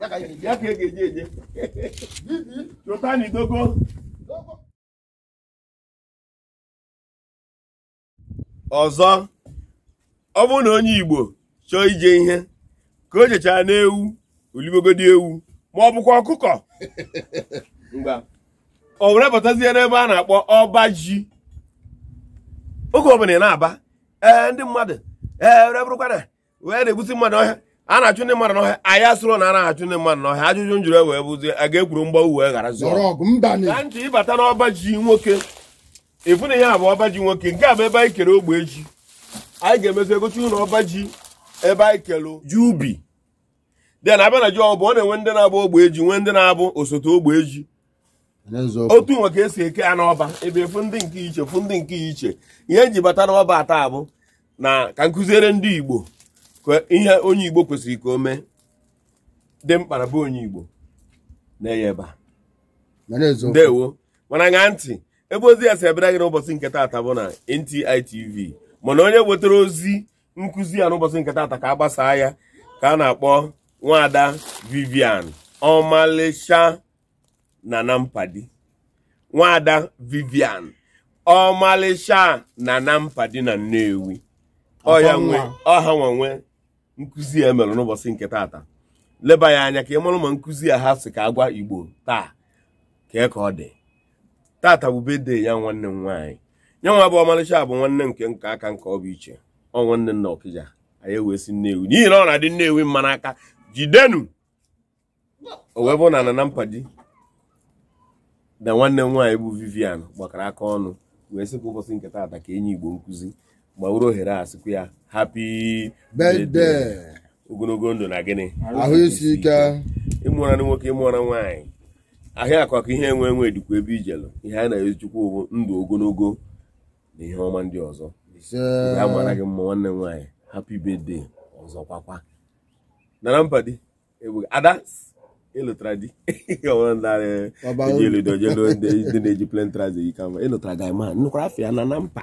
ya ka ị ga-eji eje chụta n'idogo ọzọ ọ bụrụ na onye Igbo chọọ ije ihe ka o jechara n'ewu olibogodi ewu ma ọ bụkwa ọkụkọ o were batazie n'ebe a na-akpọ ọba ji oge ọbụla ị na-aba ee ndị mmadụ ee were bụrụkwa na wee na-egbusi mmadụ ọhịa a na-achụ ndị mmadụ n'ọhịa anyị asụrụ na a na-achụ ndị mmadụ n'ọhịa ajụjụ m jụrụ e wee bụzie a ga-ekwuru mgba uwe ghara zụọ ka ntị ị bata n'ọba ji nwoke ị fụ na ihe a bụ ọba ji nwoke nke a bụ ebe anyị kere ogbe ji anyị ga-emezi egosi unu ọba ji ebe anyị kelụ ji ubi then a bịa na ji ọ bụ ọ na-enwe ndị na-abụ ogbe ji nwee ndị na-abụ osote ogbe ji otu nwa ka e si eke ya n'ọba ebe efu ndị nke iche fụ ndị nke iche ihe e ji bata n'ọba taa bụ na ka m kụziere ndị Igbo ka ihe onye Igbo kwesịrị ka o mee dị mkpa na be onye Igbo na-eye ebe ndewo mana ṅa ntị ebe ozi a si abịara gị n'ụbọchị nke taata bụ na NTI TV mana onye wetara ozi nkụzi a n'ụbọchị nke taata ka a gbasaa ya ka a na-akpọ Nwada Vivian ọmalịcha na na mpadi Nwada Vivian ọmalịcha na na mpadi na Nnewi ọ ya nwe ọ ha nwa nwe nkụzi a mere n'ụbọchị nke taata leba ya anya ka ị mara ma nkụzi a ha sị ka a gwa Igbo taa kee ka ọ dị taata bụ birthday ya nwanne m nwaanyị nya nwa bụ ọmalịcha bụ nwanne nke nke aka nke ọ bụ iche ọ nwanne nna Ọkịja anyị ewee si Nnewi n'ihi na ọ na-adị Nnewi mma n'aka jidenu o wee bụrụ na na na mpadi na nwanne m nwaanyị bụ Vivian gbakọrọ aka ọnụ wee sị ka ụbọchị nke taata ka e nye Igbo nkụzi ma were ohere a sịkwa ya happy birthday ogologo ndụ na gịnị ahụ isi ike ị mụra nwoke ị mụra nwaanyị ihe akụ akụ ihe enwe enwe dịkwa ebe i jelụ ihe a na-ezi Chukwu bụ ndụ ogologo na ihe ọma ndị ọzọ a mara gị mma nwanne m nwaanyị happy birthday ọzọ kwakwa na na mpa di ada ị lụtara di ndị na-eji plain trouser yi kama ị lụtara gị ma nnukwara afọ ya na na mpa